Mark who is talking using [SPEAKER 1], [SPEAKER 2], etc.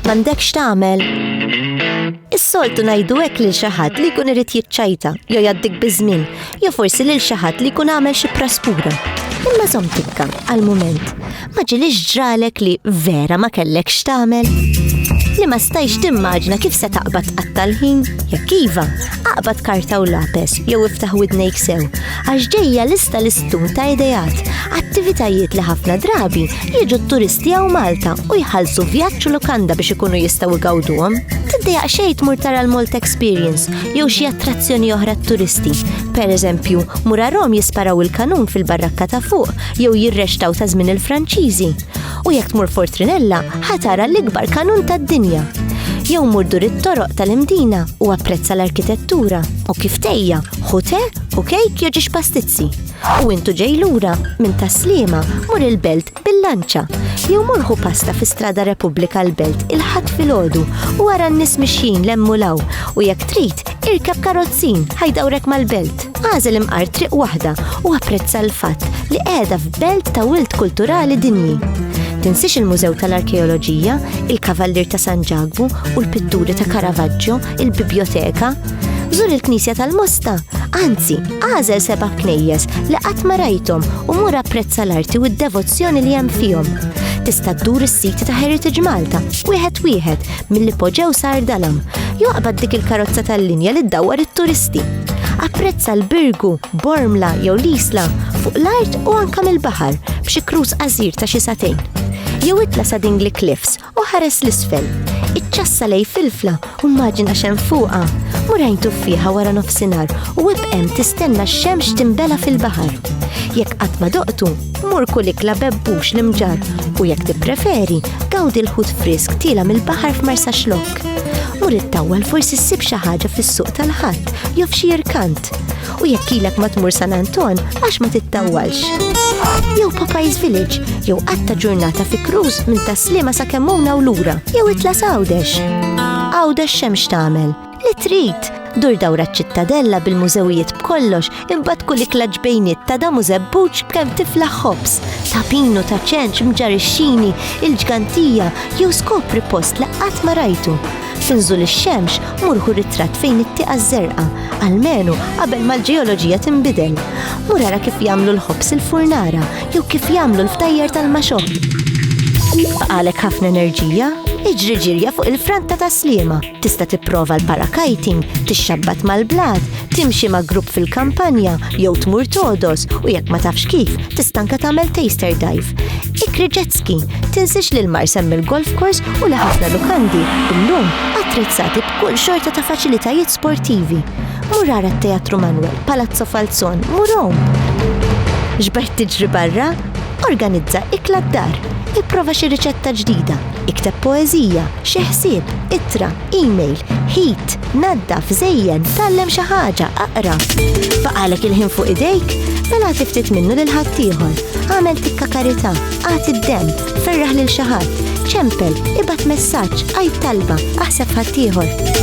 [SPEAKER 1] M'għandekx tagħmel? Is-soltu ngħidu hekk lil xi ħadd li jkun irid jiċċajta jew jgħaddik biż-żmien, jew forsi lil xi ħadd li jkun għamel xi praspura. Imma żomm tikka għal mument. Ma ġilix ġralek li vera ma kellek x'tagħmel? Li ma stajx timmaġna kif se taqbad tqattal ħin? Jekk iva, aqbad karta u lapes jew iftaħ widnejk sew, għax ġejja lista l-istun ta' idejat, attivitajiet li ħafna drabi jiġu t-turisti għaw Malta u jħallsu vjaġġ u lukanda biex ikunu jistgħu igawduhom. Tiddejaq xejn tmur tara l-Malta Experience jew xi attrazzjoni oħra t-turisti. Per eżempju, mur Rom jisparaw il-kanun fil-barrakka ta' fuq jew jirrextaw ta' żmien il-Franċiżi, u jekk tmur Fortrinella ħatara l-ikbar kanun tad-dinja. Jew mur dur it-toroq tal-imdina u apprezza l-arkitettura u kif tejja ħu te u kejk jew ġiex pastizzi. U intu ġej lura minn taslima mur il-belt bil-lanċa jew murħu pasta fi strada Repubblika l-belt il-ħadd filgħodu u wara n-nies mixjin lemmu law u jekk trid Irkab karozzin, ħajdawrek mal-belt. Għażel imqar triq waħda u apprezza l-fatt li qiegħda f'belt ta' wilt kulturali dinji. Tinsix il-Mużew tal-Arkeoloġija, il-Kavallir ta' San Ġagbu u l-pitturi ta' Caravaggio, il-biblioteka. Żur il-Knisja tal-Mosta, anzi, għażel seba' knejjes li qatt ma rajthom u mur apprezza l-arti u d-devozzjoni li hemm fihom tista' ddur is-siti ta' Heritage Malta, wieħed wieħed Mill-ipoġew sar dalam, joqbad dik il-karozza tal-linja li ddawwar it-turisti. Apprezza l-Birgu, Bormla jew l-Isla fuq l-art u anka mill-baħar b'xi kruż qasir ta' xi satejn. Jew itla sa Dingli Cliffs u ħares l-isfel. Iċċassa lej filfla u mmaġina xem fuqa. Murajn tuffiħa wara nofsinhar u ibqem tistenna x-xemx timbela fil-baħar. Jekk qatt ma doqtu, Mur kull ikla bebbux l-imġar u jekk tippreferi, gawdi l-ħut frisk tila mill-baħar f'Marsa Xlok. Mur it-tawwal forsi ssib xi ħaġa fis-suq tal-ħadd jew f'xi irkant. U jekk ilek ma tmur San Anton għax ma tittawwalx. Jew Popeyes Village, jew qatta ġurnata fi cruise minn taslima sa kemmuna u lura, jew itla' Għawdex. Għawdex xemx tagħmel. Li trid! Dur dawra ċ-Ċittadella bil-mużewijiet b'kollox imbagħad kull ikla ġbejniet ta' damu żebbuġ b'kemm tiflaħ ħobż, ta' pinu, ta' ċenċ, mġarixxini, il-ġgantija jew skopri post li qatt ma rajtu. F'inżul ix-xemx mur ħu ritratt fejn it-tieqa ż-żerqa, almenu qabel ma l-ġeoloġija tinbidel. Mur ara kif jagħmlu l-ħobż il-furnara jew kif jagħmlu l-ftajjar tal-maxoħ. Baqalek ħafna enerġija? Iġri ġirja fuq il-franta ta' Sliema. Tista' tipprova l-parakiting, tixxabbat mal-blat, timxi ma' grupp fil-kampanja jew tmur togħdos u jekk ma tafx kif, tista' anke tagħmel taster dive. Ikri jet ski, tinsiex li l-mar semmi l-golf course u li ħafna lukandi illum attrezzati b'kull xorta ta' faċilitajiet sportivi. Mur ara t-Teatru Manwel, Palazzo Falzon, mur Rom. Xbert tiġri barra? Organizza ikla d-dar. Ipprova xi riċetta ġdida. Ikteb poeżija, xi ħsieb, ittra, email, ħit, naddaf, żejjen, tgħallem xi ħaġa, aqra. Baqalek il-ħin fuq idejk, mela għati ftit minnu lil ħaddieħor. Għamel tikka karità, għati d-dem, ferraħ lil xi ħadd, ċempel, ibgħat messaġġ, għid talba, aħseb ħaddieħor.